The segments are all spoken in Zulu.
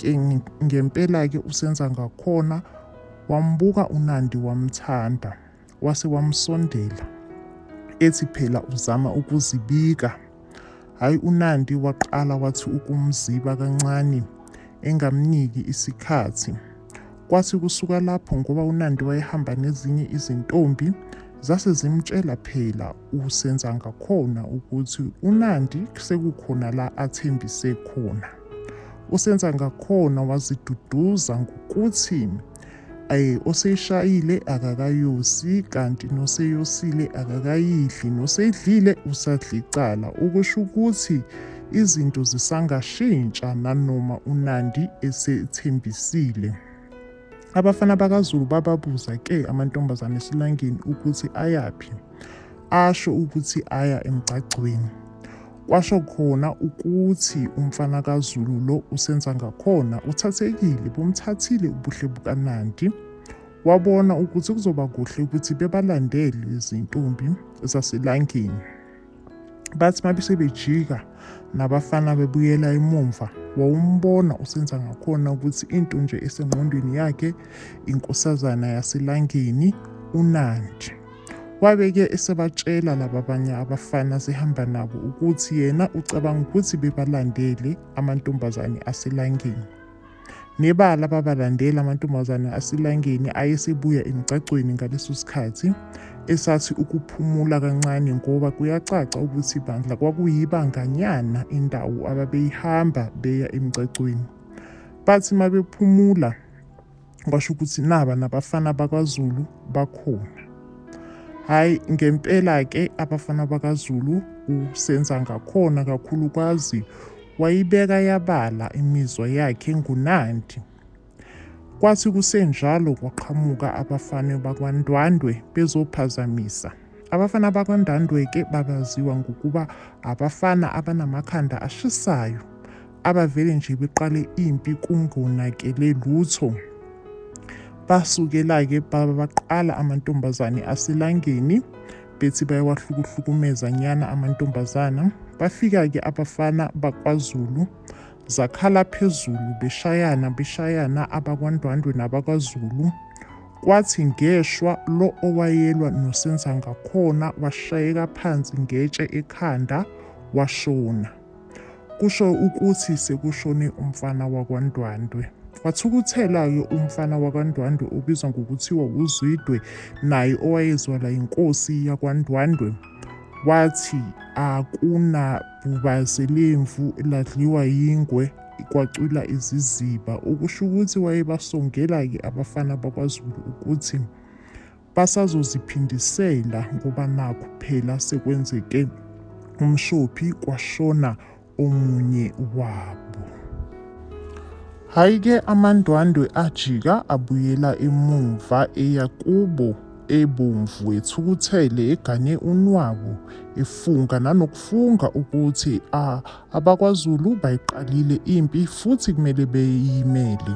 Ke ngempela-ke uSenza ngakhona wambuka uNandi wamthanda, wase wamsondela, ethi phela uzama ukuzibika. Hhayi uNandi waqala wathi ukumziba kancane engamniki isikhathi. Kwathi kusuka lapho ngoba uNandi wayehamba nezinye izintombi, zase zimtshela phela uSenza ngakhona ukuthi uNandi sekukhona la athembise khona. usenza ngakhona waziduduza ngokuthi eh oseyishayile akakayosi kanti noseyosile akakayidli noseyidlile usadlicala okusho ukuthi izinto zisangashintsha nanoma uNandi esethembisile abafana bakaZulu bababuza ke amantombazane esilangeni ukuthi ayaphi asho ukuthi aya emgcagcweni Kwasho khona ukuthi umfana kaZulu lo usenza ngakhona uthathekile bumthathile ubuhle bukaNandi. Wabona ukuthi kuzoba kuhle ukuthi bebalandele izintombi zaselangeni. Bathi mabese bejika nabafana bebuyela emumva wawumbona usenza ngakhona ukuthi into nje esengqondweni yakhe inkosazana yaselangeni uNandi. Wabe ke esebatshela laba banye abafana asehamba nabo ukuthi yena ucabanga ukuthi bebalandele amantombazane aselangeni. Nebala babalandela amantombazane aselangeni ayesebuya emgcagcweni ngaleso sikhathi esathi ukuphumula kancane ngoba kuyacaca ukuthi ibandla kwakuyibanganyana indawo ababeyihamba beya emgcagcweni. Bathi mabephumula kwasho ukuthi naba nabafana bakwaZulu bakhona hhayi ngempela-ke abafana bakazulu usenza ngakhona kakhulukazi wayibeka yabala imizwa yakhe ngunandi kwathi kusenjalo kwaqhamuka abafana bakwandwandwe bezophazamisa abafana bakwandwandwe-ke babaziwa ngokuba abafana abanamakhanda ashisayo abavele nje beqale impi kungonakele lutho. Basukela-ke baba baqala amantombazane aselangeni bethi bayawahlukuhlukumeza nyana amantombazana. Bafika-ke abafana bakwaZulu zakhala phezulu beshayana beshayana abakwaNdwandwe nabakwaZulu. Kwathi ngeshwa lo owayelwa noSenzangakhona washayeka phansi ngetshe ekhanda washona. Kusho ukuthi sekushone umfana wakwaNdwandwe. Wathukuthela-ke umfana wakwaNdwandwe obizwa ngokuthiwa wuZwidwe naye owayezwala yinkosi yakwaNdwandwe. Wathi akunabhubazi lemvu ladliwa yingwe kwacwila iziziba okusho ukuthi wayebasongela-ke abafana bakwaZulu ukuthi Basazoziphindisela ngoba nakhu phela sekwenzeke umshophi kwashona omunye wabo. Hhayi ke amandwandwe ajika abuyela emuva eya kubo ebomvu ethukuthele egane unwabu efunga nanokufunga ukuthi a abakwaZulu bayiqalile impi futhi kumele beyimele.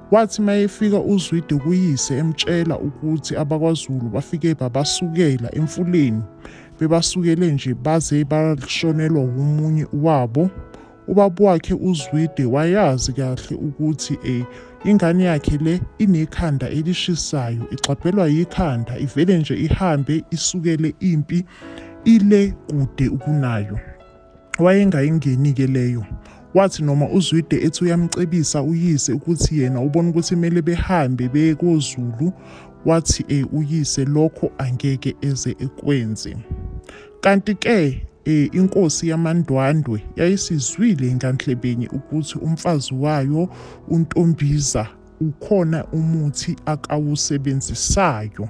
Wathi mayefika uZwide kuyise emtshela ukuthi abakwaZulu bafike babasukela emfuleni bebasukele nje baze bashonelwa wumunye wabo ubaba wakhe uZwide wayazi kahle ukuthi eh ingane yakhe le inekhanda elishisayo igxabhelwa yikhanda ivele nje ihambe isukele impi ile kude ukunayo wayengayingeni-ke leyo. Wathi noma uZwide ethi uyamcebisa uyise ukuthi yena ubona ukuthi kumele behambe beye koZulu, wathi e, uyise lokho angeke eze ekwenze. Kanti-ke e, inkosi yamaNdwandwe yayisizwile nganhlebeni ukuthi umfazi wayo uNtombiza ukhona umuthi akawusebenzisayo.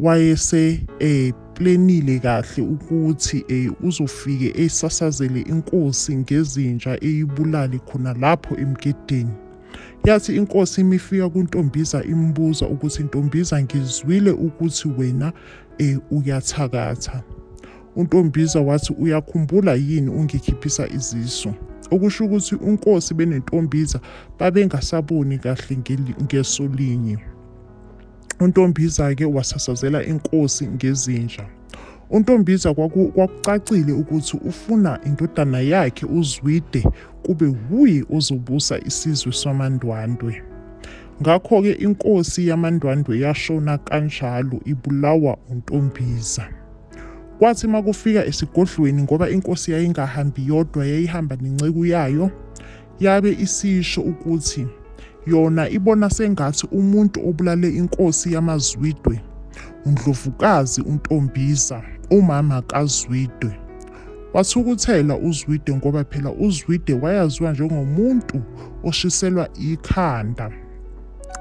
wayese eh plenile kahle ukuthi eh uzofike esasazele inkosi ngezinja eyibulali khona lapho emgedeni yathi inkosi imifika kuntombiza imbuza ukuthi ntombiza ngizwile ukuthi wena eh uyathakatha untombiza wathi uyakhumbula yini ungikhiphisa izisu okusho ukuthi unkosi benentombiza babengasaboni kahle ngeso linye UNtombiza-ke wasasazela inkosi ngezinja. UNtombiza kwaku- kwakucacile ukuthi ufuna indodana yakhe uZwide kube wuye ozobusa isizwe samaNdwandwe. Ngakho-ke inkosi yamaNdwandwe yashona kanjalo ibulawa uNtombiza. Kwathi makufika esigodlweni ngoba inkosi yayingahambi yodwa yayihamba nenceku yayo Yabe isisho ukuthi yona ibona sengathi umuntu obulale inkosi yamaZwidwe uNdlovukazi uNtombiza, umama kaZwidwe. Wathukuthela uZwide ngoba phela uZwide wayaziwa njengomuntu oshiselwa ikhanda.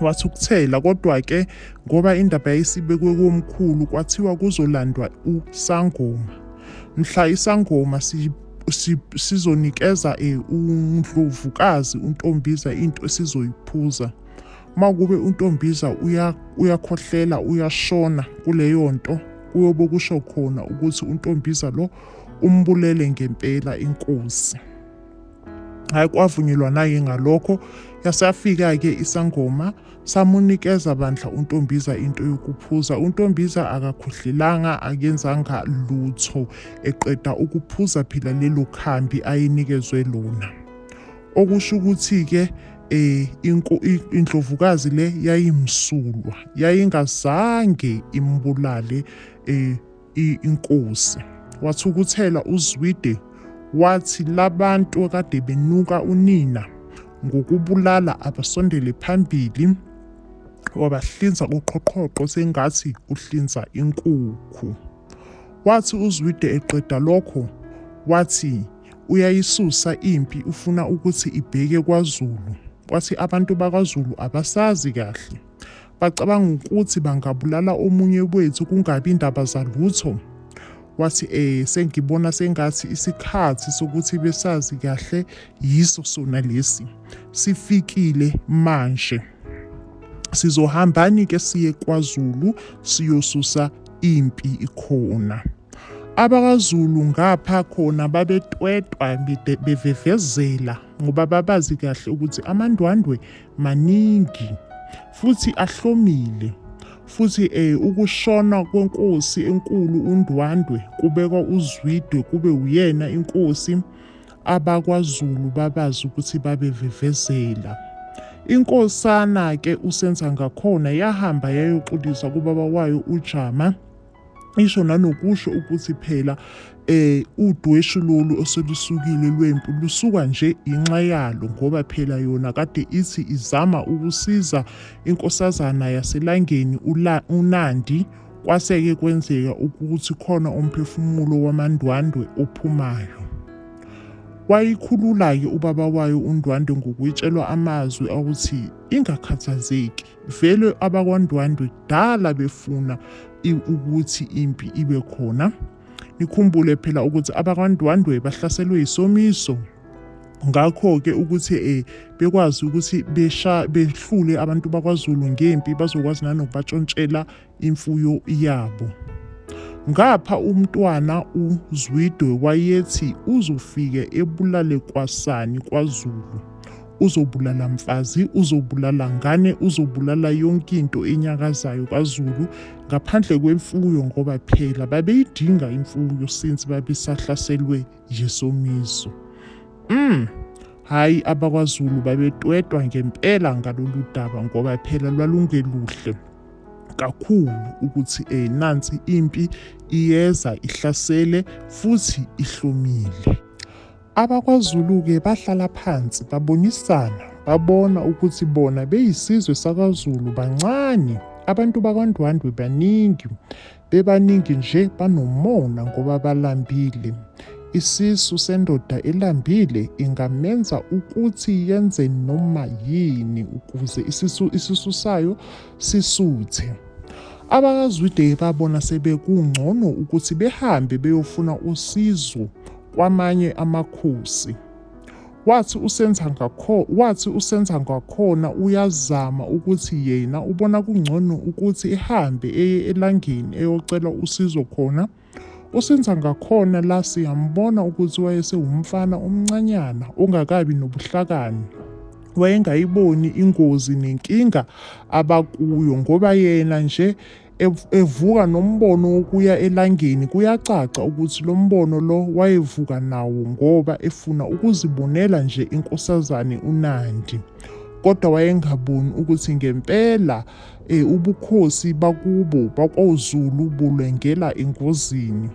Wathukuthela kodwa-ke ngoba indaba yayisibekwe komkhulu kwathiwa kuzolandwa uSangoma. Mhla iSangoma si sizonikeza eh, undlovukazi untombiza into esizoyiphuza uma kube untombiza uyakhohlela uyashona kuleyo nto kuyobe kusho khona ukuthi untombiza lo umbulele ngempela inkosi hayi kwavunyelwa naye ngalokho yasafika-ke isangoma Samunikeza bandla uNtombiza into yokuphuza. UNtombiza akakhohlelanga akenzanga lutho eqeda ukuphuza phela lelo khambi ayenikezwe lona. Okusho ukuthi-ke eh inko- i- indlovukazi le yayimsulwa yayingazange imbulale eh inkosi. Wathukuthela uZwide wathi labantu akade benuka unina ngokubulala abasondele phambili wabahlinza uqhoqhoqho sengathi uhlinza inkukhu. Wathi uZwide eqeda lokho wathi uyayisusa impi ufuna ukuthi ibheke kwaZulu. Wathi abantu bakwaZulu abasazi kahle. Bacabanga ukuthi bangabulala omunye wethu kungabi ndaba zalutho. Wathi, Eh, sengibona sengathi isikhathi sokuthi besazi kahle yiso sona lesi. Sifikile manje. Sizohambani-ke siye kwaZulu siyosusa impi ikhona. AbakaZulu ngapha khona babetwetwa bevevezela ngoba babazi kahle ukuthi amandwandwe maningi futhi ahlomile futhi eh ukushona kwenkosi enkulu uNdwandwe kubekwa uZwidwe kube uyena inkosi abakwaZulu babazi ukuthi babevivezela inkosana ke uSenza ngakhona yahamba yayoxolisa kubaba wayo uJama isho nanokusho ukuthi phela eh udweshu lolu oselusukile lwempu lusuka nje inxa yalo ngoba phela yona kade ithi izama ukusiza inkosazana yaselangeni uNandi kwaseke kwenzeka ukuthi khona umphefumulo wamandwandwe ophumayo wayikhulula-ke ubaba wayo undwandwe ngokuyitshelwa amazwi awuthi ingakhathazeki vele abakwandwandwe kudala befuna ukuthi impi ibe khona nikhumbule phela ukuthi abakwandwandwe bahlaselwe yisomiso ngakho-ke ukuthi um bekwazi ukuthi behlule abantu bakwaZulu ngempi bazokwazi nanokubatshontshela imfuyo yabo. Ngapha uMntwana uZwidwe wayethi uzofike ebulale kwasani kwaZulu. Uzobulala mfazi, uzobulala ngane, uzobulala yonke into enyakazayo kwaZulu ngaphandle kwemfuyo ngoba phela babeyidinga imfuyo since babesahlaselwe yisomiso. Mm. Hayi abakwaZulu babetwetwa ngempela ngalolu daba ngoba phela lwalungeluhle. kakhulu ukuthi eh nansi impi iyeza ihlasele futhi ihlomile abakwaZulu-ke bahlala phansi babonisana babona ukuthi bona beyisizwe sakwaZulu bancane abantu bakwaNdwandwe baningi Bebaningi nje banomona ngoba balambile. Isisu sendoda elambile ingamenza ukuthi yenze noma yini ukuze isisu isisu sayo sisuthe. AbakaZwide babona sebekungcono ukuthi behambe beyofuna usizo kwamanye amakhosi. Wathi usenza ngakho wathi usenza ngakhona uyazama ukuthi yena ubona kungcono ukuthi ehambe eye elangeni eyocela usizo khona. Usenza ngakhona la siyambona ukuthi wayesewumfana omncanyana ongakabi nobuhlakani. Wayengayiboni ingozi nenkinga abakuyo ngoba yena nje evuka nombono wokuya elangeni kuyacaca ukuthi lo mbono lo wayevuka nawo ngoba efuna ukuzibonela nje inkosazane uNandi kodwa wayengaboni ukuthi ngempela e, ubukhosi bakubo bakwaZulu bulwengela engozini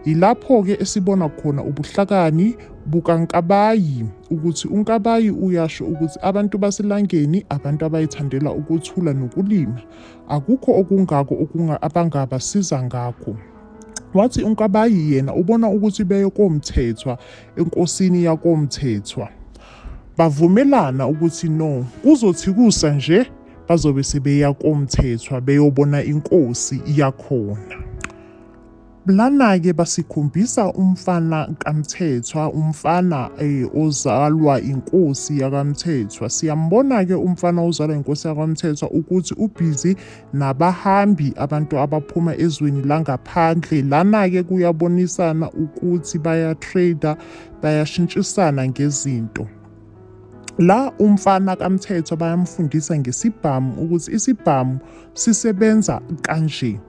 yilapho-ke esibona khona ubuhlakani bukaNkabayi ukuthi uNkabayi uyasho ukuthi abantu baselangeni abantu abayithandela ukuthula nokulima Akukho okungako okunga abangabasiza ngakho. Wathi uNkabayi yena ubona ukuthi beye koMthethwa enkosini yakoMthethwa. Bavumelana ukuthi no kuzothi kusa nje bazobe sebeya koMthethwa beyobona inkosi yakhona. Lana-ke basikhombisa umfana kaMthethwa, umfana eh, ozalwa inkosi yakaMthethwa. Siyambona-ke umfana ozalwa inkosi yakaMthethwa ukuthi ubhizi nabahambi abantu abaphuma ezweni langaphandle. Lana-ke kuyabonisana ukuthi bayatrader, bayashintshisana ngezinto. La umfana kaMthethwa bayamfundisa ngesibhamu ukuthi isibhamu sisebenza kanje.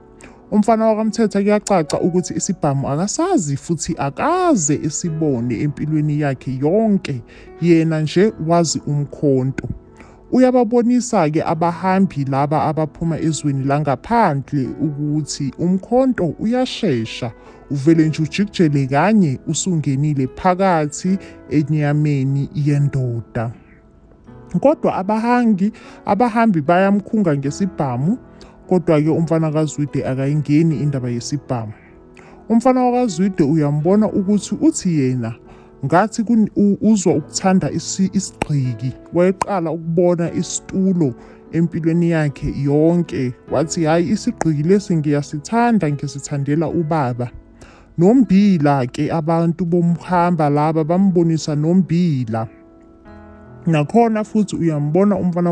Umfana wakaMthetha kuyacaca ukuthi isibhamu akasazi futhi akaze esibone empilweni yakhe yonke, yena nje wazi umkhonto. Uyababonisa-ke abahambi laba abaphuma ezweni langaphandle ukuthi umkhonto uyashesha, uvele nje ujikijele kanye usungenile phakathi enyameni yendoda. Kodwa abahangi abahambi bayamkhunga ngesibhamu kodwa-ke umfana kaZwide akayingeni indaba yesibhamu. Umfana wakaZwide uyambona ukuthi uthi yena ngathi kun- u- uzwa ukuthanda isi- isigqiki wayeqala ukubona isitulo empilweni yakhe yonke wathi hhayi isigqiki lesi ngiyasithanda ngisithandela ubaba nombila ke abantu bomhamba laba bambonisa nombila nakhona futhi uyambona umfana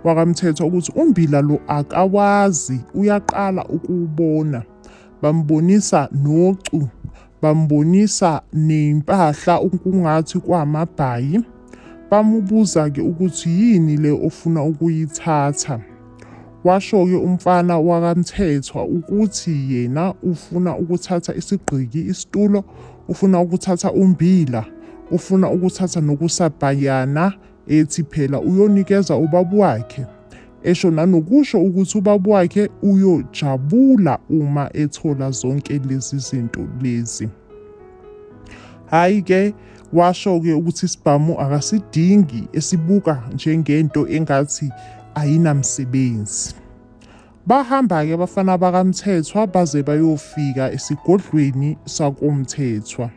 wakamthetho ukuthi umbila lo akawazi uyaqala ukuwubona bambonisa nocu bambonisa nempahla ukungathi kwamabhayi bamubuza-ke ukuthi yini le ofuna ukuyithatha Washo-ke umfana wakaMthethwa ukuthi yena ufuna ukuthatha isigqiki, isitulo, ufuna ukuthatha ummbila, ufuna ukuthatha nokusabhayana, ethi phela uyonikeza ubaba wakhe, esho nanokusho ukuthi ubaba wakhe uyojabula uma ethola zonke lezi zinto lezi. Hhayi ke washo-ke ukuthi isibhamu akasidingi esibuka njengento engathi ayinamsebenzi. Bahamba-ke abafana bakaMthethwa baze bayofika esigodlweni sakoMthethwa.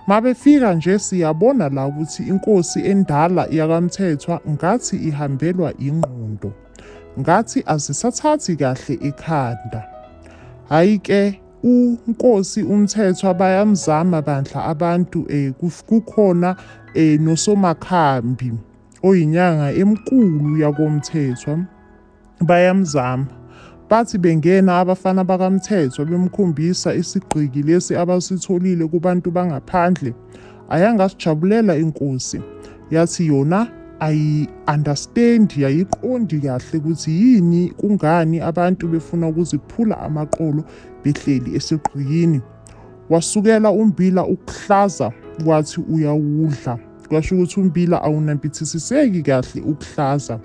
Mabefika nje siyabona la ukuthi inkosi endala yakaMthethwa ngathi ihambelwa ingqondo. Ngathi azisathathi kahle ekhanda. Hhayi ke uNkosi uMthethwa bayamzama bandla abantu eh kuf- kukhona eh nosomakhambi oyinyanga emkulu yakoMthethwa bayamzama bathi bengena abafana bakamthethwa bemkhombisa isigqiki lesi abasitholile kubantu bangaphandle ayangasjabulela inkosi yathi yona ayi understand yayiqondi kahle ukuthi yini kungani abantu befuna ukuziphula amaqolo behleli esigqiyini wasukela umbila ukuhlaza wathi uyawudla kwasho ukuthi umbila awunampithisiseki kahle ukuhlaza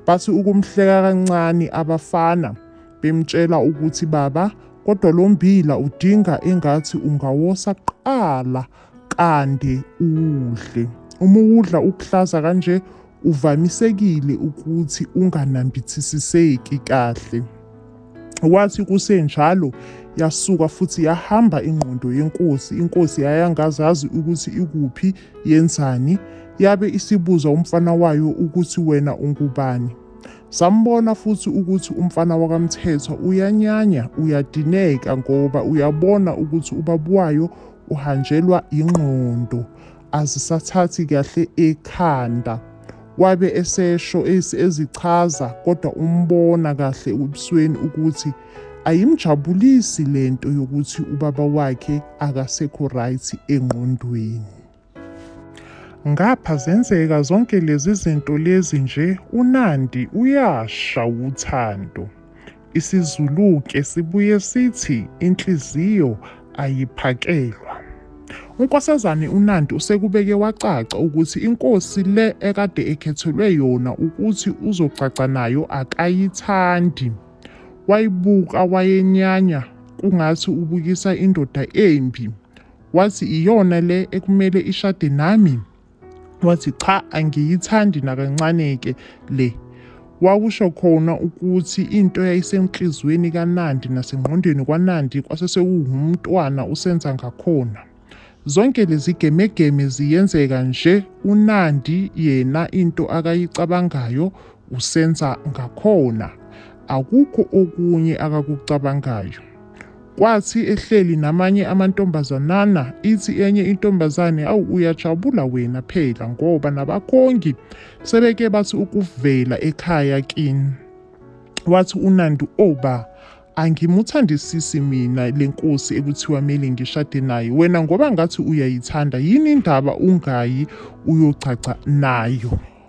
bathi ukumhleka kancane abafana Bemtshela ukuthi baba kodwa lo mbila udinga engathi ungawosa kuqala kande uwudle. Uma uwudla ukuhlaza kanje uvamisekile ukuthi unganambithisiseki kahle. Wathi kusenjalo yasuka futhi yahamba ingqondo yenkosi. Inkosi yayangazazi ukuthi ikuphi yenzani. Yabe isibuza umfana wayo ukuthi wena ungubani. Sambona futhi ukuthi umfana wakaMthethwa uyanyanya, uyadineka ngoba uyabona ukuthi ubaba wayo uhanjelwa yingqondo, azisathathi kahle ekhanda. Wabe esesho ezichaza kodwa umbona kahle ebusweni ukuthi ayimjabulisi lento yokuthi ubaba wakhe akasekho right engqondweni. Ngapha zenzeka zonke lezi zinto lezi nje uNandi uyasha wuthando. Isizuluke sibuye sithi inhliziyo ayiphakelwa. UNkosazane uNandi usekubeke wacaca ukuthi inkosi le ekade ekhethelwe yona ukuthi uzogcagca nayo akayithandi. Wayibuka wayenyanya kungathi ubukisa indoda embi. Wathi iyona le ekumele ishade nami? Wathi cha angiyithandi nakancane-ke le. Wakusho khona ukuthi into yayisenhliziyweni kaNandi nasengqondweni kwaNandi kwase sekuwumntwana usenza ngakhona. Zonke lezi gemegeme ziyenzeka nje uNandi yena into akayicabangayo usenza ngakhona. Akukho okunye akakucabangayo. Kwathi ehleli namanye amantombazanana, ithi enye intombazane, Awu, uyajabula wena phela, ngoba nabakhongi sebeke bathi ukuvela ekhaya kini. Wathi uNandi, O ba, angimuthandisisi mina le nkosi ekuthiwa mele ngishade naye. Wena ngoba ngathi uyayithanda, yini indaba ungayi uyogcagca nayo?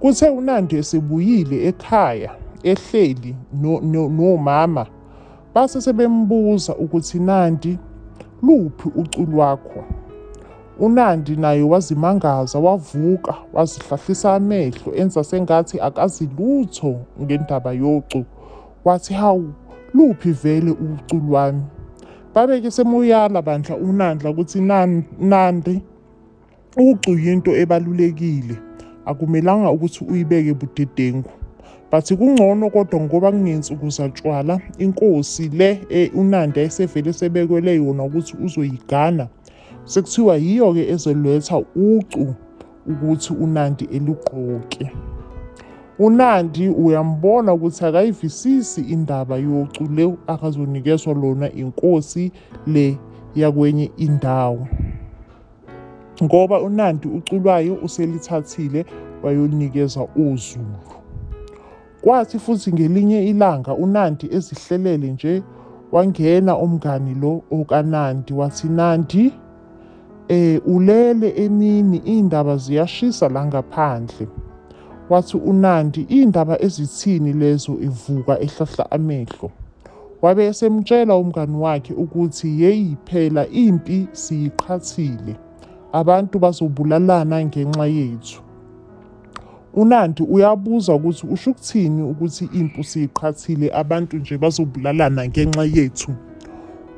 Kuthe uNandi esebuyile ekhaya ehleli nomama base sebembuza ukuthi Nandi luphi ucu lwakho uNandi naye wazimangaza wavuka wazihlahlisa amehlo enza sengathi akazi lutho ngendaba yocu wathi hawu luphi vele ucu lwami babeke semuyala bandla uNandla ukuthi Nandi Ucu yinto ebalulekile, akumelanga ukuthi uyibeke budedengu. But kungcono kodwa ngoba kungensuku zatshwala, inkosi le e, uNandi ayisevele esebekwele yona ukuthi uzoyigana. Sekuthiwa yiyo-ke ezoletha ucu ukuthi uNandi elugqoke. UNandi uyambona ukuthi akayivisisi indaba yocu le akazonikezwa lona inkosi le yakwenye indawo. ngoba uNandi uculwayo uselithathile wayolinikeza uZulu. Kwathi futhi ngelinye ilanga uNandi ezihlelele nje wangena umngani lo okaNandi wathi Nandi eh ulele emini indaba ziyashisa la ngaphandle. Wathi uNandi indaba ezithini lezo evuka ehlahla amehlo. Wabe esemtshela umngani wakhe ukuthi yeyi phela impi siyiqhathile, abantu bazobulalana ngenxa yethu. UNandi uyabuza ukuthi usho ukuthini ukuthi impi usiyiqhathile abantu nje bazobulalana ngenxa yethu.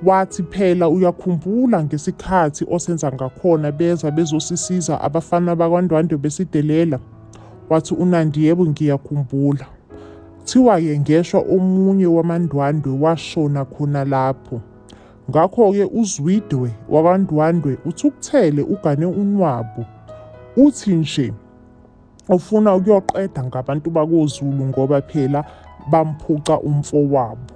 Wathi phela uyakhumbula ngesikhathi osenza ngakhona beza bezosisiza abafana bakwaNdwandwe besidelela? Wathi uNandi yebo ngiyakhumbula. Kuthiwa-ke ngeshwa omunye wamaNdwandwe washona khona lapho. Ngakho-ke uZwide wakwaNdwandwe uthukuthele ugane unwabu. Uthi nje ufuna ukuyoqeda ngabantu bakoZulu ngoba phela bamphuca umfowabo.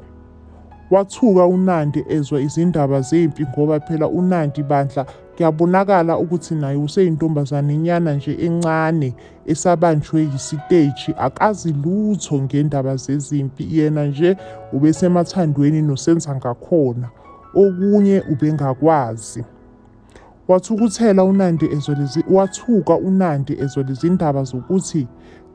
Wathuka uNandi ezwa izindaba zempi ngoba phela uNandi bandla Kuyabonakala ukuthi naye useyintombazane nyana nje encane esabanjwe yisiteji akazi lutho ngendaba zezimpi yena nje ubesemathandweni noSenzangakhona okunye ubengakwazi. Wathukuthela uNandi ezwa lezi wathuka uNandi ezwa lezindaba zokuthi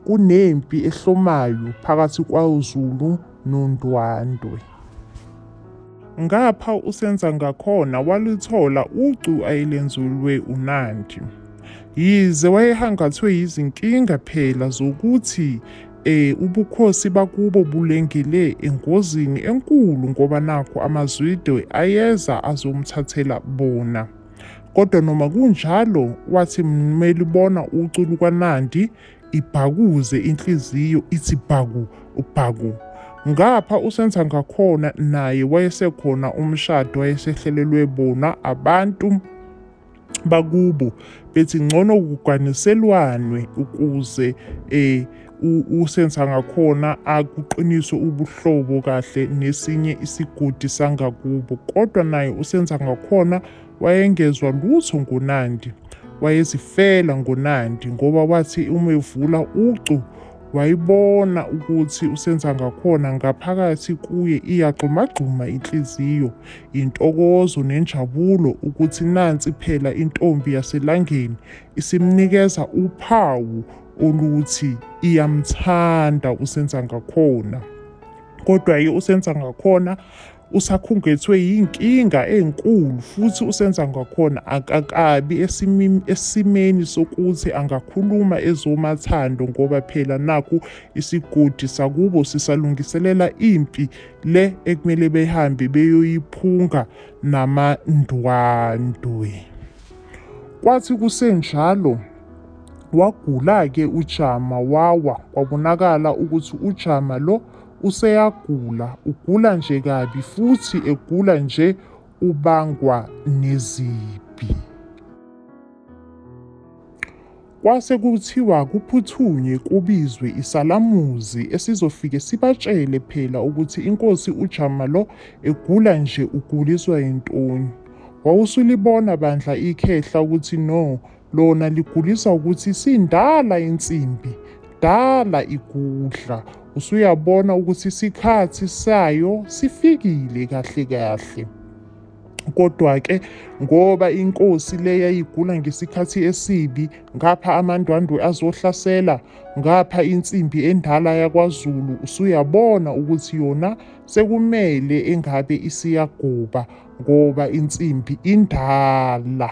kunempi ehlomayo phakathi kwaZulu noNdwandwe. Ngapha uSenzangakhona waluthola ucu ayelenzulwe uNandi. Yize wayehangathwe yizinkinga phela zokuthi eh ubukhosi bakubo bulengele engozini enkulu ngoba nakho amazwide ayeza azomthathela bona kodwa noma kunjalo wathi mmelibona ucu lukaNandi Ibhakuze inhliziyo ithi bhaku bhaku. Ngapha usenza ngakhona naye wayesekhona umshado wayesehlelelwe bona abantu bakubo bethi ngcono kuganiselwanwe ukuze eh usenza ngakhona akuqiniswe ubuhlobo kahle nesinye isigodi sangakubo kodwa naye usenza ngakhona Wayengezwa lutho ngoNandi. Wayezifela ngoNandi ngoba wathi uma evula ucu wayibona ukuthi uSenzangakhona ngaphakathi kuye iyagxumagxuma inhliziyo, intokozo nenjabulo ukuthi nansi phela intombi yaselangeni isimnikeza uphawu oluthi iyamthanda uSenzangakhona. Kodwa-ke uSenzangakhona usakhungethwe yinkinga enkulu futhi usenza ngakhona akakabi esimeni sokuthi angakhuluma ezomathando ngoba phela nakhu isigodi sakubo sisalungiselela impi le ekumele behambe beyoyiphunga namandwandwe kwathi kusenjalo wagula-ke ujama wawa kwabonakala ukuthi ujama lo useyagula ugula nje kabi futhi egula nje ubangwa nezibi. Kwase kuthiwa kuphuthunywe kubizwe isalamuzi esizofike sibatshele phela ukuthi inkosi uJama lo egula nje uguliswa yintoni. Wawusulibona bandla ikhehla ukuthi no Lona ligulisa ukuthi sindala insimbi, dala igudla. Usuyabona ukuthi isikhathi sayo sifikile kahle kahle. Kodwa-ke ngoba inkosi le yayigula ngesikhathi esibi, ngapha amandwandwe azohlasela, ngapha insimbi endala yakwaZulu, usuyabona ukuthi yona sekumele engabe isiyagoba ngoba insimbi indala.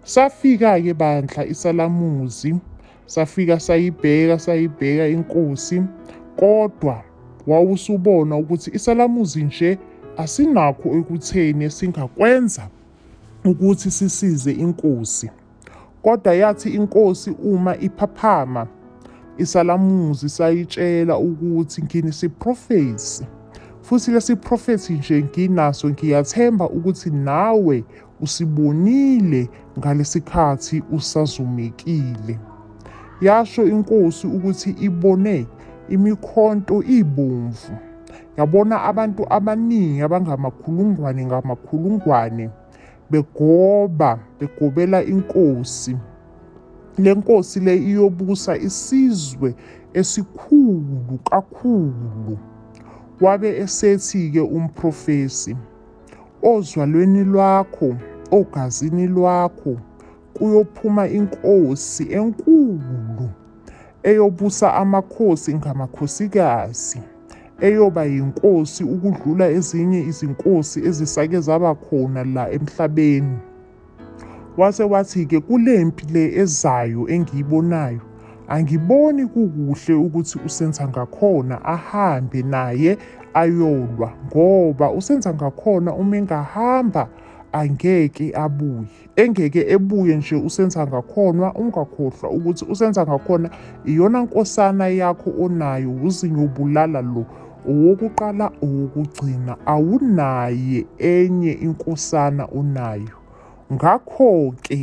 Safika-ke bandla isalamuzi, safika sayibheka sayibheka inkosi, kodwa wawusubona ukuthi isalamuzi nje asinakho ekutheni esingakwenza ukuthi sisize inkosi. Kodwa yathi inkosi uma iphaphama, isalamuzi sayitshela ukuthi nginesiprofethi, futhi lesiprofethi nje nginaso ngiyathemba ukuthi nawe usibonile ngalesikhathi usazumekile. Yasho inkosi ukuthi ibone imikhonto ibomvu. Yabona abantu abaningi abangamakhulungwane ngamakhulungwane begoba begobela inkosi. Le nkosi le iyobusa isizwe esikhulu kakhulu. Wabe esethi-ke umprofesi. ozwalweni lwakho, ogazini lwakho, kuyophuma inkosi enkulu eyobusa amakhosi ngamakhosikazi, eyoba yinkosi ukudlula ezinye izinkosi ezisake zaba khona la emhlabeni. Wase wathi-ke kule mpi le ezayo engiyibonayo angiboni kukuhle ukuthi uSenzangakhona ahambe naye ayolwa ngoba uSenzangakhona uma engahamba angeke abuye engeke ebuye nje uSenzangakhonwa ungakhohlwa ukuthi uSenzangakhona iyona nkosana yakho onayo wuzinyo ubulala lo Owokuqala owokugcina awunaye enye inkosana onayo. Ngakho-ke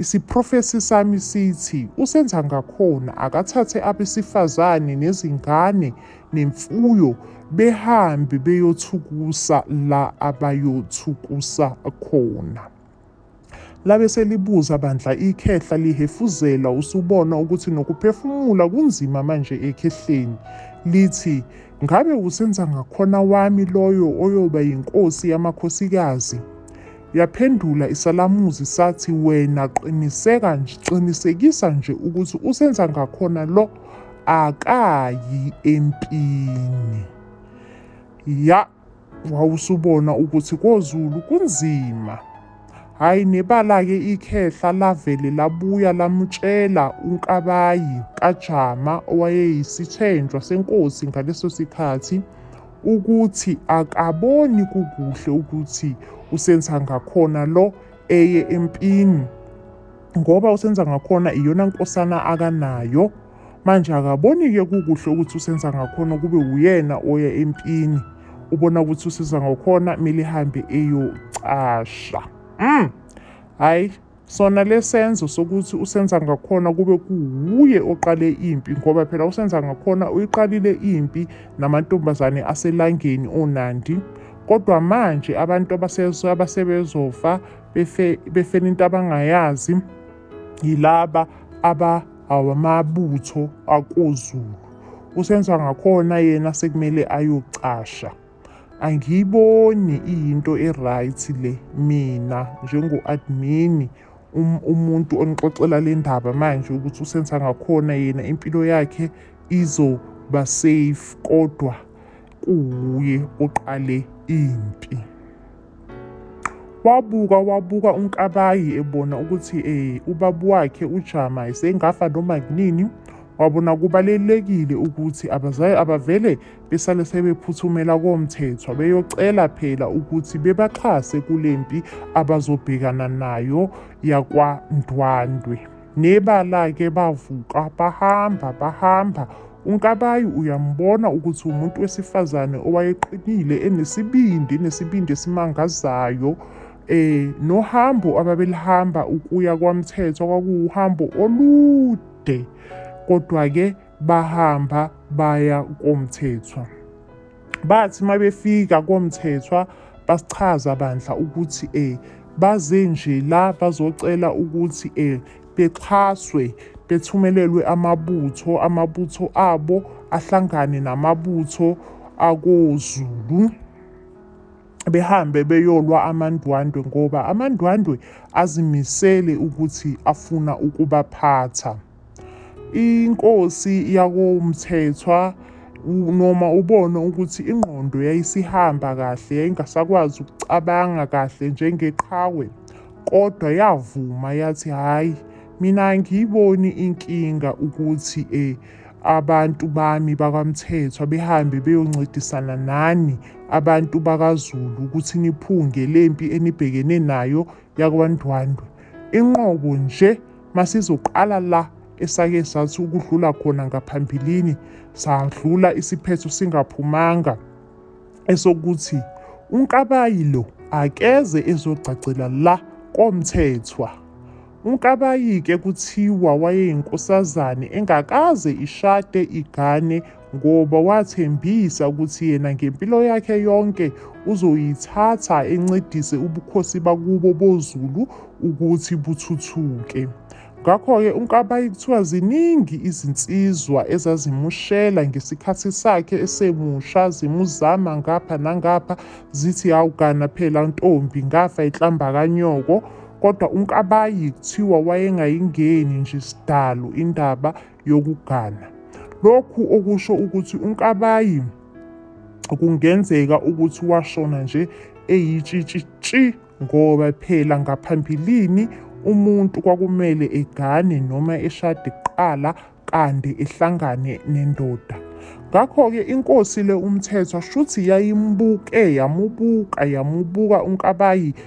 isiprofesi sami sithi usenza ngakhona akathathe abesifazane nezingane nemfuyo behambe beyothukusa la abayothukusa khona. Labe selibuza bandla ikhehla lihefuzela usubona ukuthi nokuphefumula kunzima manje ekhehleni. Lithi ngabe uSenzangakhona wami loyo oyoba yinkosi yamakhosikazi? Yaphendula isalamuzi sathi wena qiniseka nje qinisekisa nje ukuthi uSenzangakhona lo akayi empini. Ya Wawusubona ukuthi koZulu kunzima. Hhayi nebala-ke ikhehla lavele labuya lamutshela uNkabayi kaJama owayeyisithenjwa senkosi ngaleso sikhathi ukuthi akaboni kukuhle ukuthi uSenzangakhona lo eye empini ngoba uSenzangakhona iyona nkosana akanayo. Manje akaboni-ke kukuhle ukuthi usenza ngakhona kube uyena oya empini. Ubona ukuthi usiza ngakhona kumele ihambe eyocasha. Mm. Hayi sona lesenzo sokuthi usenza ngakhona kube kuwuye oqale impi ngoba phela usenza ngakhona uyiqalile impi namantombazane aselangeni onandi kodwa manje abantu abasebezofa befela into abangayazi yilaba aba awamabutho akoZulu. USenzangakhona yena sekumele ayocasha. Angiyiboni iyinto e-right le mina njengo-admini um, umuntu onixoxela le ndaba manje ukuthi uSenzangakhona yena impilo yakhe izoba safe kodwa kuwuye oqale impi. Wabuka wabuka uNkabayi ebona ukuthi eh ubaba wakhe uJama esengafa noma kunini wabona kubalulekile ukuthi abazali abavele besale sebephuthumela komthethwa beyocela phela ukuthi bebaxhase kule mpi abazobhekana nayo yakwaNdwandwe. Nebala-ke bavuka bahamba bahamba. UNkabayi uyambona ukuthi umuntu wesifazane owayeqinile enesibindi enesibindi esimangazayo. Eh nohambo ababelihamba ukuya kwaMthethwa kwakuwuhambo olude. Kodwa-ke bahamba baya koMthethwa. Bathi uma befika koMthethwa basichaza bandla ukuthi um baze nje la bazocela ukuthi um bexhaswe bethumelelwe amabutho amabutho abo ahlangane namabutho akoZulu behambe beyolwa amandwandwe ngoba amandwandwe azimisele ukuthi afuna ukubaphatha. Inkosi yakoMthethwa noma ubona ukuthi ingqondo yayisihamba kahle yayingasakwazi ukucabanga kahle njengeqhawe kodwa yavuma yathi hhayi mina angiyiboni inkinga ukuthi eh abantu bami bakwamthethwa behambe beyoncidisana nani abantu bakazulu ukuthi niphunge lempi enibhekene nayo yakwandwandwe inqobo nje Masizoqala la esake sathi ukudlula khona ngaphambilini sadlula isiphetho singaphumanga esokuthi uNkabayi lo akeze ezogcagcela la koMthethwa. UNkabayi-ke kuthiwa wayeyinkosazane engakaze ishade igane ngoba wathembisa ukuthi yena ngempilo yakhe yonke uzoyithatha encedise ubukhosi bakubo boZulu ukuthi buthuthuke. Ngakho-ke uNkabayi kuthiwa ziningi izinsizwa ezazimushela ngesikhathi sakhe esemusha zimuzama ngapha nangapha zithi hawugana phela ntombi ngafa ihlamba kanyoko kodwa uNkabayi kuthiwa wayengayingeni nje sidalo indaba yokugana. Lokhu okusho ukuthi uNkabayi kungenzeka ukuthi washona nje eyitshitshi tshi ngoba phela ngaphambilini umuntu kwakumele egane noma eshade kuqala kande ehlangane nendoda. Ngakho-ke inkosi le uMthethwa shuthi yayimbuke yamubuka yamubuka uNkabayi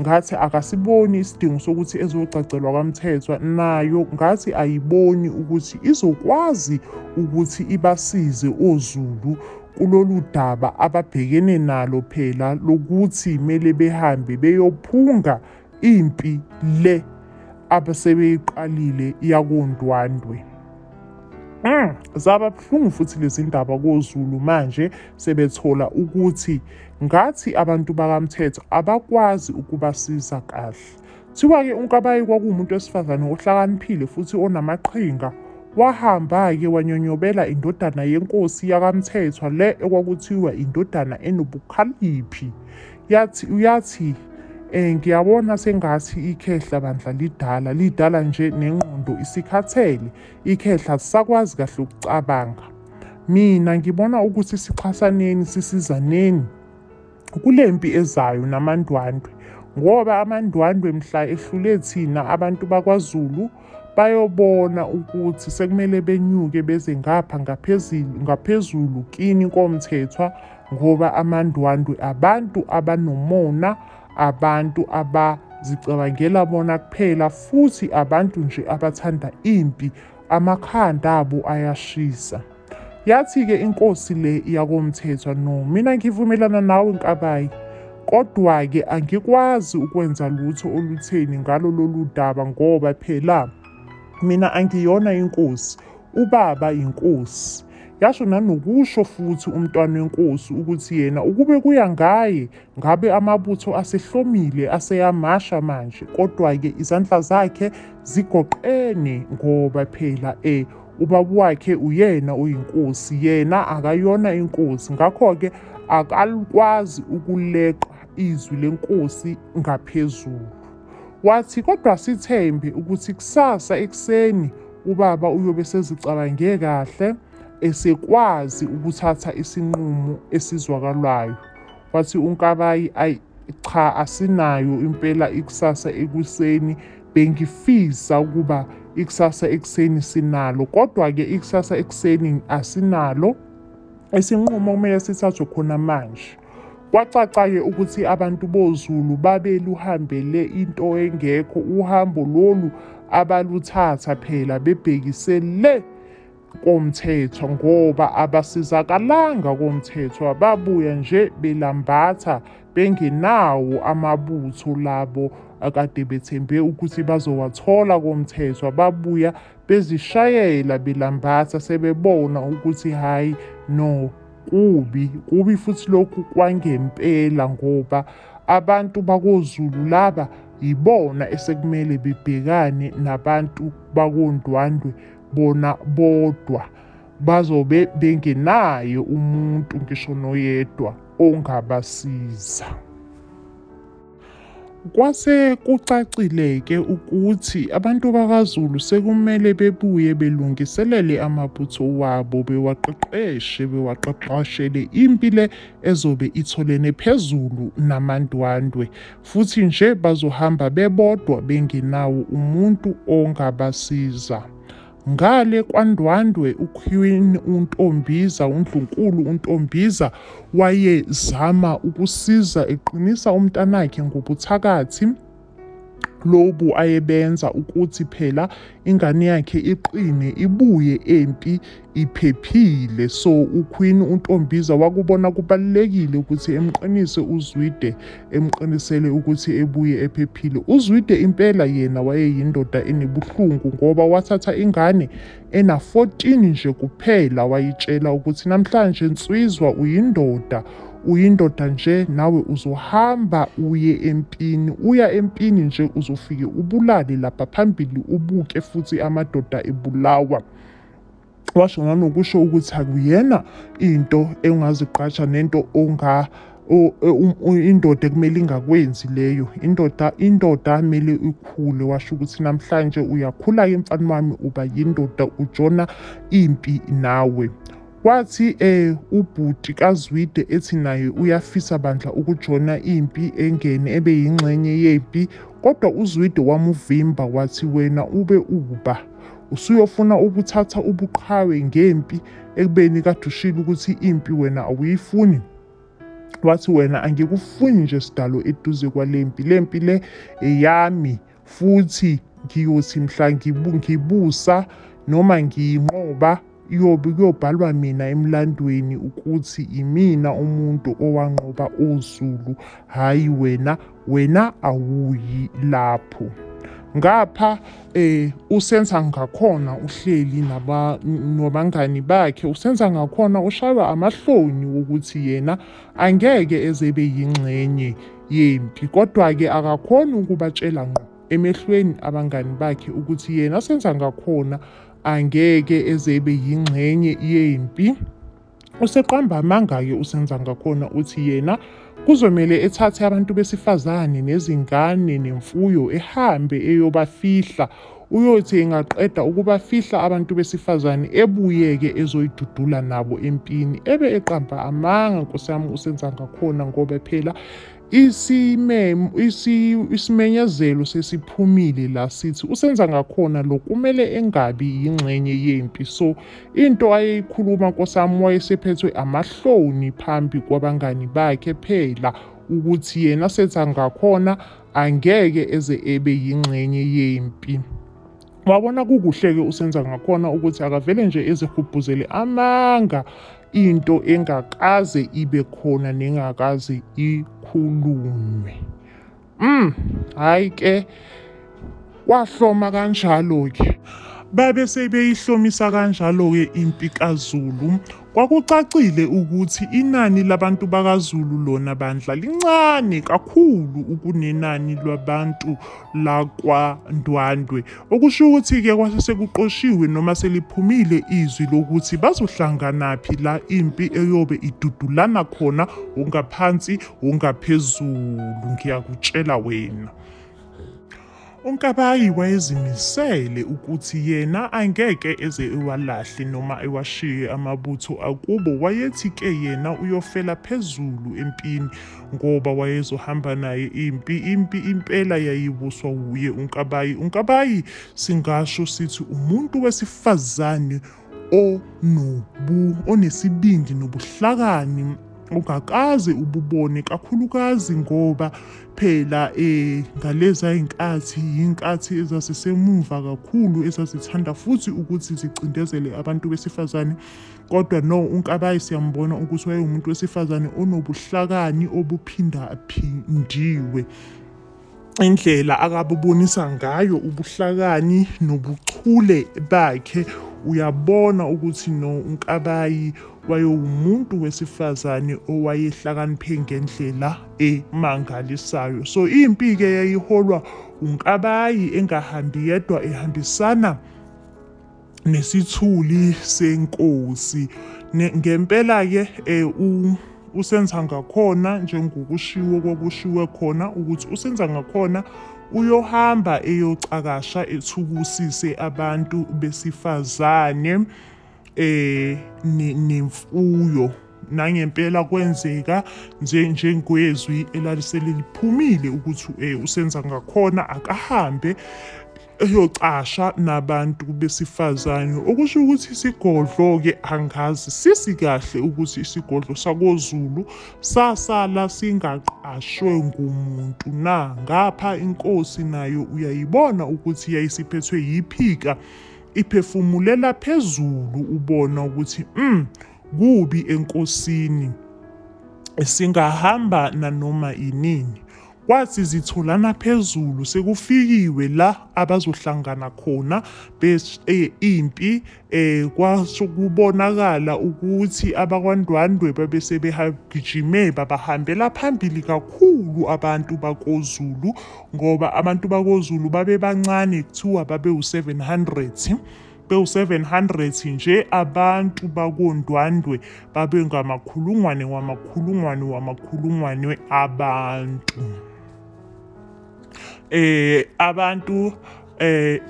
ngathi akasiboni isidingo sokuthi ezogcagcelwa kwaMthethwa nayo ngathi ayiboni ukuthi izokwazi ukuthi ibasize oZulu kulolu daba ababhekene nalo phela lokuthi kumele behambe beyophunga impi le abasebeyiqalile yakondwandwe Mm, zaba buhlungu futhi lezindaba koZulu manje sebethola ukuthi Ngathi abantu bakaMthetho abakwazi ukubasiza kahle. Thiwa-ke uNkabayi kwakuwumuntu wesifazane ohlakaniphile futhi onamaqhinga. Wahamba-ke wanyonyobela indodana yenkosi yakaMthethwa le ekwakuthiwa indodana enobukhaliphi. Yathi uyathi eh ngiyabona sengathi ikhehla bandla lidala lidala nje nengqondo isikhathele ikhehla lisakwazi kahle ukucabanga. Mina ngibona ukuthi sixhasaneni sisizaneni kule mpi ezayo namandwandwe ngoba amandwandwe mhla ehlule thina abantu bakwaZulu bayobona ukuthi sekumele benyuke beze ngapha ngaphezulu ngaphezulu kini komthethwa ngoba amandwandwe abantu abanomona abantu abazicabangela bona kuphela futhi abantu nje abathanda impi Amakhanda abo ayashisa. Yathi-ke inkosi le yakoMthethwa, No, mina ngivumelana nawe Nkabayi. Kodwa-ke angikwazi ukwenza lutho olutheni ngalo lolu daba ngoba phela mina angiyona inkosi, ubaba yinkosi. Yasho nanokusho futhi uMntwana weNkosi ukuthi yena ukube kuya ngaye Ngabe amabutho asehlomile aseyamasha manje kodwa-ke izandla zakhe zigoqene ngoba phela e ubaba wakhe uyena oyinkosi yena akayona inkosi ngakho-ke akalukwazi ukuleqa izwi lenkosi ngaphezulu wathi kodwa sithembe ukuthi kusasa ekuseni ubaba uyobe sezicabange kahle esekwazi ukuthatha isinqumo esizwakalayo Wathi uNkabayi ayi cha asinayo impela ikusasa ekuseni bengifisa ukuba ikusasa ekuseni sinalo kodwa-ke ikusasa ekuseni asinalo isinqumo kumele sithathwe khona manje kwacaca-ke ukuthi abantu bozulu babeluhambele into engekho uhambo lolu abaluthatha phela bebhekise le komthethwa ngoba abasizakalanga komthethwa babuya nje belambatha bengenawo amabutho labo akade bethembe ukuthi bazowathola komthethwa babuya bezishayela belambatha sebebona ukuthi hhayi no kubi kubi futhi lokhu kwangempela ngoba abantu bakozulu laba yibona esekumele bebhekane nabantu bakondwandwe bona bodwa bazobe bengenaye umuntu ngisho noyedwa ongabasiza. Kwase kucacile-ke ukuthi abantu bakaZulu sekumele bebuye belungiselele amabutho wabo bewaqeqeshe bewaqeqeshele impi le ezobe itholene phezulu namandwandwe Futhi nje bazohamba bebodwa bengenawo umuntu ongabasiza. Ngale kwaNdwandwe uQueen uNtombiza, uNdlunkulu uNtombiza wayezama ukusiza eqinisa umntanakhe ngobuthakathi lobu ayebenza ukuthi phela ingane yakhe iqine ibuye empi iphephile so uQueen uNtombiza wakubona kubalulekile ukuthi emqinise uZwide emqinisele ukuthi ebuye ephephile uZwide impela yena wayeyindoda enebuhlungu ngoba wathatha ingane ena 14 nje kuphela wayitshela ukuthi namhlanje nswizwa uyindoda uyindoda nje nawe uzohamba uye empini uya empini nje uzofike ubulale lapha phambili ubuke futhi amadoda ebulawa washo nganokusho ukuthi akuyena into engazigqaja nento onga o- e- um- u- indoda ekumele ingakwenzi leyo indoda indoda amele ikhule washo ukuthi namhlanje uyakhula-ke mfana wami uba yindoda ujona impi nawe wathi eh ubhuti kaZwide ethi naye uyafisa bandla ukujona impi engene ebe yingxenye yempi kodwa uZwide wamuvimba wathi wena ube uba Usuyofuna ukuthatha ubuqhawe ngempi ekubeni kade ushilo ukuthi impi wena awuyifuni. Wathi wena angikufuni nje sidalo eduze kwale mpi. Le mpi le eyami futhi ngiyothi mhla ngibusa noma ngiyinqoba Iyobe kuyobhalwa mina emlandweni ukuthi imina umuntu owanqoba oZulu, hhayi wena, wena awuyi lapho. Ngapha eh usenza ngakhona uhleli naba nabangani bakhe usenza ngakhona ushaywa amahloni ukuthi yena angeke ezebe yingxenye yempi kodwa ke akakhona ukubatshela ngqo emehlweni abangani bakhe ukuthi yena senza ngakhona angeke eze ebe yingxenye yempi useqamba amanga-ke usenza ngakhona uthi yena kuzomele ethathe abantu besifazane nezingane nemfuyo ehambe eyobafihla uyothi engaqeda ukubafihla abantu besifazane ebuyeke ezoyidudula nabo empini ebe eqamba amanga nkosi yami usenza ngakhona ngoba phela Isimenyezelo sesiphumile la sithi uSenzangakhona lo kumele engabi yingxenye yempi so into ayeyikhuluma nkosami wayesephethwe amahloni phambi kwabangani bakhe phela ukuthi yena Senzangakhona angeke eze ebe yingxenye yempi. Wabona kukuhle-ke usenza ngakhona ukuthi akavele nje ezihubhuzele amanga into engakaze ibe khona nengakaze ikhulunywe mm hayi ke kwahloma kanjalo-ke babe sebeyihlomisa kanjalo-ke impi kazulu Kwakucacile ukuthi inani labantu bakaZulu lona bandla lincane kakhulu ukunenani lwabantu lakwaNdwandwe, okusho ukuthi-ke kwase sekuqoshiwe noma seliphumile izwi lokuthi bazohlanganaphi la impi eyobe idudulana khona wongaphansi wongaphezulu, ngiyakutshela wena. UNkabayi wayezimisele ukuthi yena angeke eze ewalahle noma ewashiye amabutho akubo wayethi ke yena uyofela phezulu empini ngoba wayezohamba naye impi impi impela yayibuswa wuye uNkabayi uNkabayi singasho sithi umuntu wesifazane onobu onesibindi nobuhlakani ungakaze ububone kakhulukazi ngoba phela eh ngaleza inkathi inkathi ezazisemuva kakhulu ezazithanda futhi ukuthi zicindezele abantu besifazane kodwa no unkabayi siyambona ukuthi wayewumuntu wesifazane onobuhlakani obuphinda phindiwe indlela akabubonisa ngayo ubuhlakani nobuchule bakhe uyabona ukuthi no uNkabayi wayewumuntu wesifazane owayehlakaniphe ngendlela emangalisayo so impi ke yayiholwa uNkabayi engahambi yedwa ehambisana nesithuli senkosi ngempela ke eh, u usenza ngakhona njengokushiwo kwakushiwe khona ukuthi usenza ngakhona uyohamba eyocakasha ethubusise abantu besifazane eh nemfuyo nangempela kwenzeka nje njengwezwi elaliseliliphumile ukuthi eh, usenza ngakhona akahambe eyocasha nabantu besifazane okusho ukuthi isigodlo-ke angazi sisi kahle ukuthi isigodlo sakozulu sasala singaqashwe ngumuntu na ngapha inkosi nayo uyayibona ukuthi yayisiphethwe yiphika iphefumulela phezulu ubona ukuthi mm kubi enkosini singahamba nanoma inini Kwathi zitholana phezulu sekufikiwe la abazohlangana khona bes eh, impi eh kwasho kubonakala ukuthi abakwaNdwandwe babesebehagijime babahambela phambili kakhulu abantu bakoZulu ngoba abantu bakoZulu babebancane kuthiwa babeu-700 Bewu-700 nje abantu bakoNdwandwe babengamakhulungwane wamakhulungwane wamakhulungwane abantu. Eh abantu eh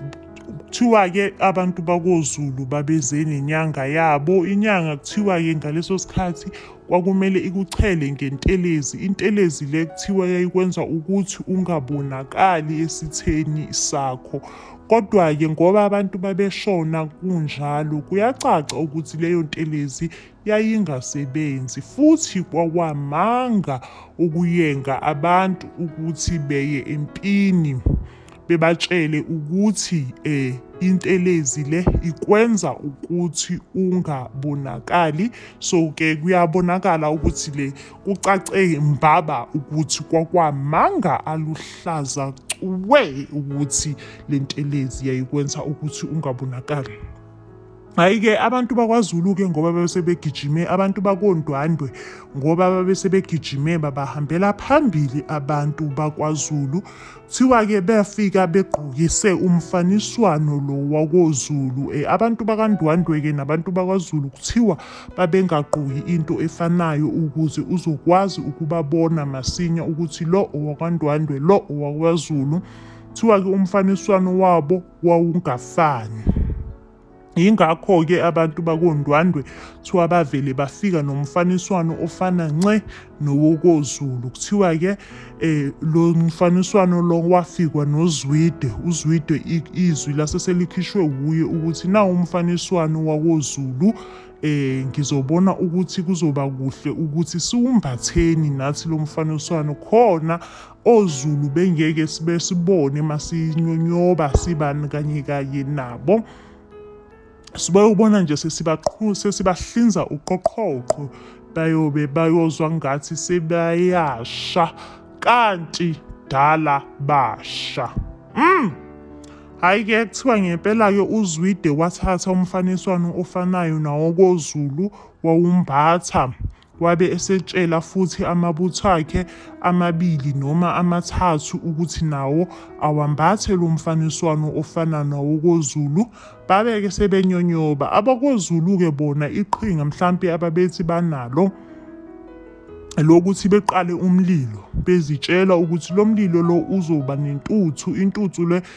kuthiwa-ke abantu bakozulu babeze nenyanga yabo inyanga kuthiwa-ke ngaleso sikhathi kwakumele ikuchele ngentelezi intelezi le kuthiwa yayikwenza ukuthi ungabonakali esitheni sakho Kodwa-ke ngoba abantu babeshona kunjalo, kuyacaca ukuthi leyo ntelezi yayingasebenzi, futhi kwawamanga ukuyenga abantu ukuthi beye empini bebatshele ukuthi e, intelezi le ikwenza ukuthi ungabonakali. So-ke kuyabonakala ukuthi le Kucace mbaba ukuthi kwakwamanga aluhlaza cwe ukuthi le ntelezi yayikwenza ukuthi ungabonakali. Hhayi-ke abantu bakwaZulu-ke ngoba babesebegijime abantu bakondwandwe ngoba babesebegijime babahambela phambili abantu bakwaZulu Kuthiwa ke befika begqokise umfaniswano lo wakoZulu. Eh, abantu bakaNdwandwe ke nabantu bakwaZulu kuthiwa babengagqoki into efanayo ukuze uzokwazi ukubabona masinya ukuthi lo owakwaNdwandwe lo owakwaZulu. Kuthiwa ke umfaniswano wabo wawungafani. Yingakho-ke abantu bakondwandwe kuthiwa bavele bafika nomfaniswano ofana nce nowokozulu kuthiwa-ke um lo mfaniswano lo wafikwa nozwide uzwide izwi lase selikhishwe wuye ukuthi nawo umfaniswano wakozulu eh ngizobona ukuthi kuzoba kuhle ukuthi siwumbatheni nathi lo mfaniswano khona oZulu bengeke sibe sibone masinyonyoba sibani kanye kanye nabo sibayobona nje sesibaqhu sesibahlinza uqoqhoqho bayobe bayozwa ngathi sebayasha kanti dala basha mm. hhayi ke kuthiwa ngempela-ke uzwide wathatha umfaniswano ofanayo nawokozulu wawumbatha Wabe esetshela futhi amabutho akhe amabili noma amathathu ukuthi nawo awambathe lo mfaniswano ofana nawokoZulu, babe-ke sebenyonyoba. AbakoZulu-ke bona iqhinga mhlampe ababethi banalo elokuthi beqale umlilo, bezitshela ukuthi lo mlilo lo uzoba nentuthu, intuthu le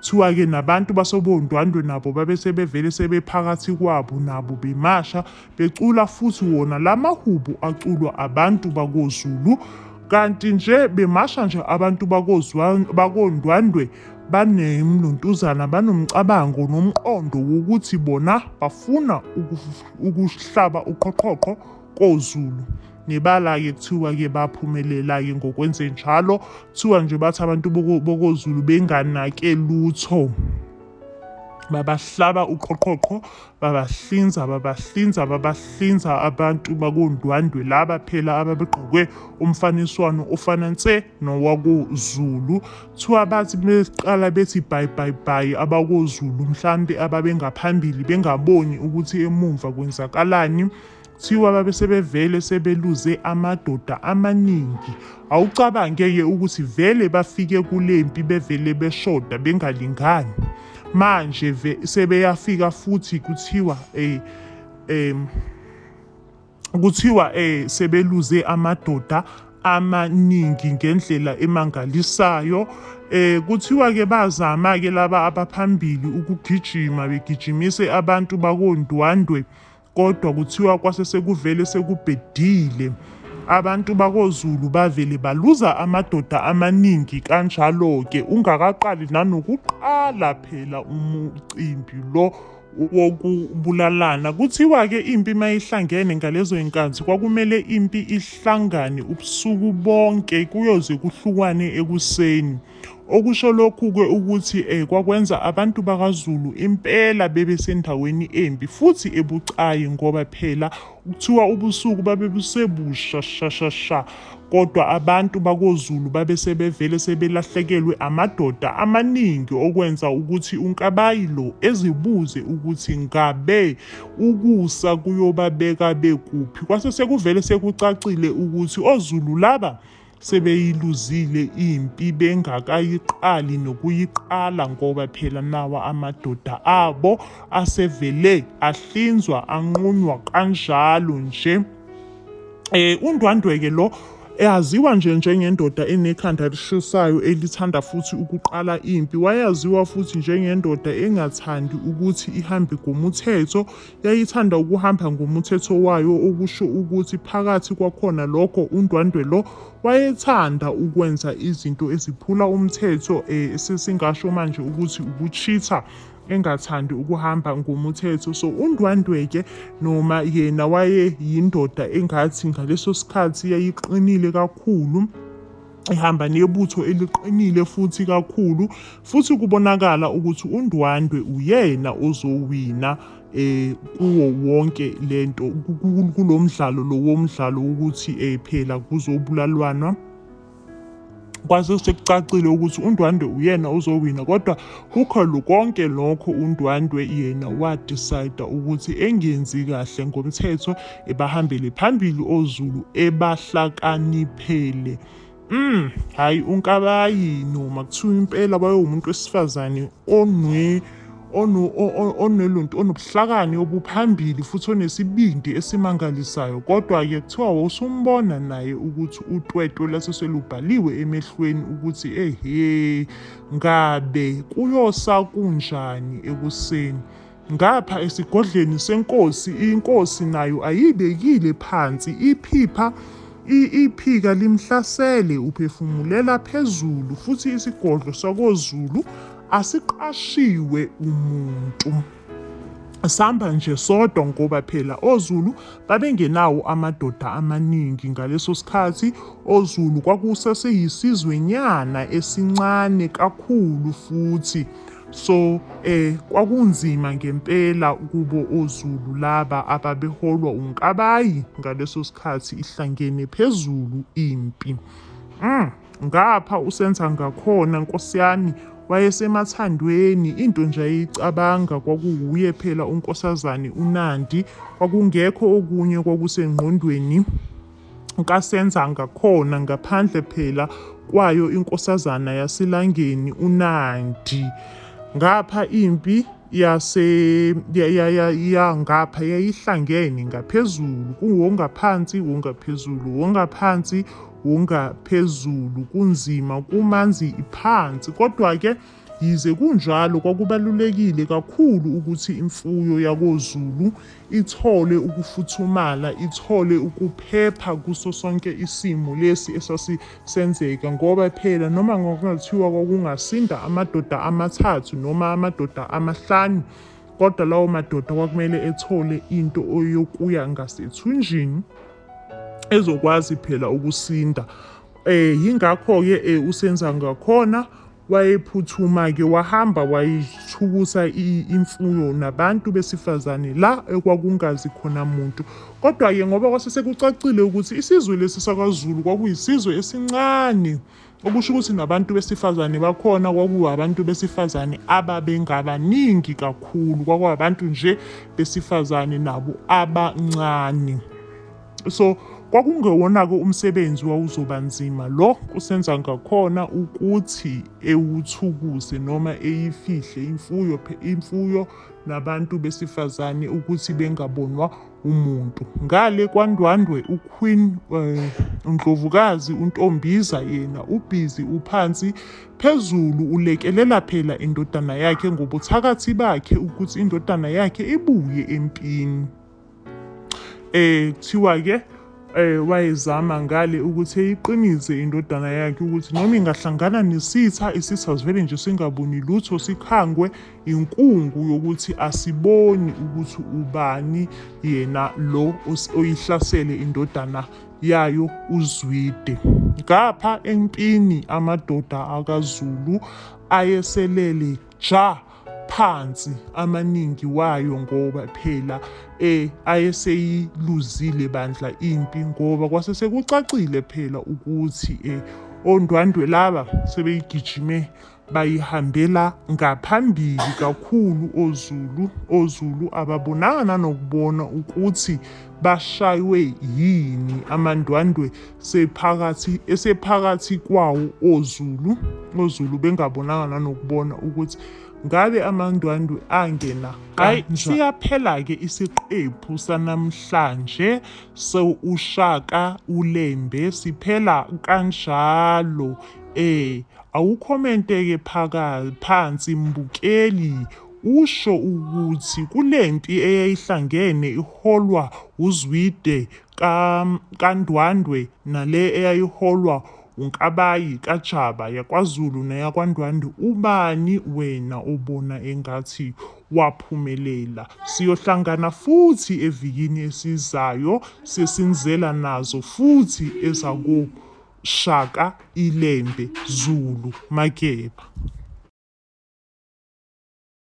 Kuthiwa-ke nabantu basobondwandwe nabo babe sebevele sebephakathi kwabo nabo bemasha becula futhi wona la mahubo aculwa abantu bakoZulu kanti nje bemasha nje abantu bakondwandwe banemluntuzana banomcabango nomqondo wokuthi bona bafuna ukuhlaba uqhoqhoqho koZulu. Nebala-ke kuthiwa-ke baphumelela-ke ngokwenzenjalo. Kuthiwa nje bathi abantu boko- bokozulu benganake lutho babahlaba uqhoqhoqho babahlinza babahlinza babahlinza abantu bakondwandwe laba phela ababegqoke umfaniswano ofana nse nowakozulu kuthiwa bathi beqala bethi bhayi bhayi bhayi abakozulu mhlampe ababengaphambili bengaboni ukuthi emumva kwenzakalani Kuthiwa babe sebevele sebeluze amadoda amaningi. Awucabange-ke ukuthi vele bafike kule mpi bevele beshoda bengalingani. Manje sebeyafika futhi kuthiwa eh um kuthiwa eh sebeluze amadoda amaningi ngendlela emangalisayo eh kuthiwa ke bazama ke laba abaphambili ukugijima begijimise abantu bakondwandwe Kodwa kuthiwa kwase sekuvele sekubhedile. Abantu bakoZulu bavele baluza amadoda amaningi kanjalo-ke ungakaqali nanokuqala phela umcimbi lo wokubulalana. Kuthiwa-ke impi uma ihlangene ngalezo y'nkathi kwakumele impi ihlangane ubusuku bonke kuyoze kuhlukwane ekuseni. Okusho lokhu-ke ukuthi um kwakwenza abantu bakaZulu impela bebe sendaweni embi futhi ebucayi ngoba phela kuthiwa ubusuku babe busebusha shashasha kodwa abantu bakoZulu babe sebevele sebelahlekelwe amadoda amaningi okwenza ukuthi uNkabayi lo ezibuze ukuthi ngabe ukusa kuyobabeka bekuphi. Kwase sekuvele sekucacile ukuthi oZulu laba sebeyiluzile impi bengakayiqali nokuyiqala ngoba phela nawa amadoda abo asevele ahlinzwa anqunywa kanjalo nje eh undwandweke lo eyaziwa nje njengendoda enekhanda elishisayo elithanda futhi ukuqala impi wayaziwa futhi njengendoda engathandi ukuthi ihambe ngomuthetho yayithanda ukuhamba ngomuthetho wayo okusho ukuthi phakathi kwakhona lokho uNdwandwe lo wayethanda ukwenza izinto eziphula umthetho um sesingasho manje ukuthi ukuchitha engathandi ukuhamba ngomuthetho so uNdwandwe-ke noma yena wayeyindoda engathi ngaleso sikhathi yayiqinile kakhulu ihamba nebutho eliqinile futhi kakhulu futhi kubonakala ukuthi uNdwandwe uyena ozowina eh kuwo wonke lento kulomdlalo lo womdlalo ukuthi eh phela kuzobulalwana kwase sekucacile ukuthi uNdwandwe uyena ozowina kodwa kukho lokonke lokho uNdwandwe yena wadecide ukuthi engenzi kahle ngomthetho ebahambele phambili oZulu ebahlakaniphele Mm, hayi unkabayi no makuthiwa impela bayowumuntu wesifazane onwe ono- o- o- oneluntu onobuhlakani obuphambili futhi onesibindi esimangalisayo kodwa-ke kuthiwa wawusumbona naye ukuthi utwetwe lase selubhaliwe emehlweni ukuthi ehe ngabe kuyosa kunjani ekuseni Ngapha esigodleni senkosi inkosi nayo ayibekile phansi iphipha i- iphika limhlasele uphefumulela phezulu futhi isigodlo sakozulu asiqashiwe umuntu sihamba nje sodwa ngoba phela ozulu babengenawo amadoda amaningi ngaleso sikhathi ozulu kwakusaseyisizwenyana esincane kakhulu futhi So eh kwakunzima ngempela kubo oZulu laba ababeholwa uNkabayi ngaleso sikhathi ihlangene phezulu impi. Mm, ngapha usenza ngakhona nkosi yami wayesemathandweni into nje ayicabanga kwakuwuye phela unkosazane uNandi kwakungekho okunye kwakusengqondweni kaSenzanga khona ngaphandle phela kwayo inkosazana yaseLangeni uNandi. Ngapha impi yase ya- ya- ya- ya- ngapha yayihlangene ngaphezulu kuwongaphansi wongaphezulu wongaphansi wongaphezulu kunzima kumanzi phansi kodwa-ke Yize kunjalo kwakubalulekile kakhulu ukuthi imfuyo yakoZulu ithole ukufuthumala, ithole ukuphepha kuso sonke isimo lesi esasisenzeka ngoba phela noma kungathiwa kwakungasinda amadoda amathathu noma amadoda amahlanu kodwa lawo madoda kwakumele ethole into yokuya ngasethunjini ezokwazi phela ukusinda. Eh, yingakho-ke eh, uSenzangakhona Wayephuthuma-ke wahamba wayithukusa imfuyo nabantu besifazane la ekwakungazi khona muntu. Kodwa-ke ngoba kwase sekucacile ukuthi isizwe lesi sakwaZulu kwakuyisizwe esincane, okusho ukuthi nabantu besifazane bakhona kwakuwabantu besifazane ababengabaningi kakhulu, kwakuwabantu nje besifazane nabo abancane. so kwakungewona-ke umsebenzi wawuzoba nzima lo kusenza ngakhona ukuthi ewuthukuse noma eyifihle imfuyo imfuyo nabantu besifazane ukuthi bengabonwa umuntu ngale kwandwandwe uqueen eh, undlovukazi untombiza yena ubhizi uphansi phezulu ulekelela phela indodana yakhe ngobuthakathi bakhe ukuthi indodana yakhe ibuye empini Eh kuthiwa ke eh wayezama ngale ukuthi eyiqinise indodana yakhe ukuthi noma ingahlangana nesitha isitha sivele nje singaboni lutho sikhangwe inkungu yokuthi asiboni ukuthi ubani yena lo oyihlasele indodana yayo uzwide ngapha empini amadoda akazulu ayeselele ja phansi amaningi wayo ngoba phela eh ayeseyiluzile bandla impi ngoba kwase sekucacile phela ukuthi eh ondwandwe laba sebeyigijime bayihambela ngaphambili kakhulu oZulu oZulu ababonanga nanokubona ukuthi Bashaywe yini amandwandwe sephakathi esephakathi kwawo oZulu oZulu bengabonanga nanokubona ukuthi ngabe amandwandwe angena hayi siyaphela ke isiqephu sanamhlanje so ushaka ulembe siphela kanjalo eh awukhomente ke phaka phansi mbukeli Usho ukuthi kule mpi eyayihlangene iholwa wuZwide ka kaNdwandwe nale eyayiholwa wuNkabayi kaJaba yakwaZulu neyakwaNdwandwe ubani wena obona engathi waphumelela? Siyohlangana futhi evikini esizayo sesinizela nazo futhi ezako Shaka iLembe Zulu Mageba.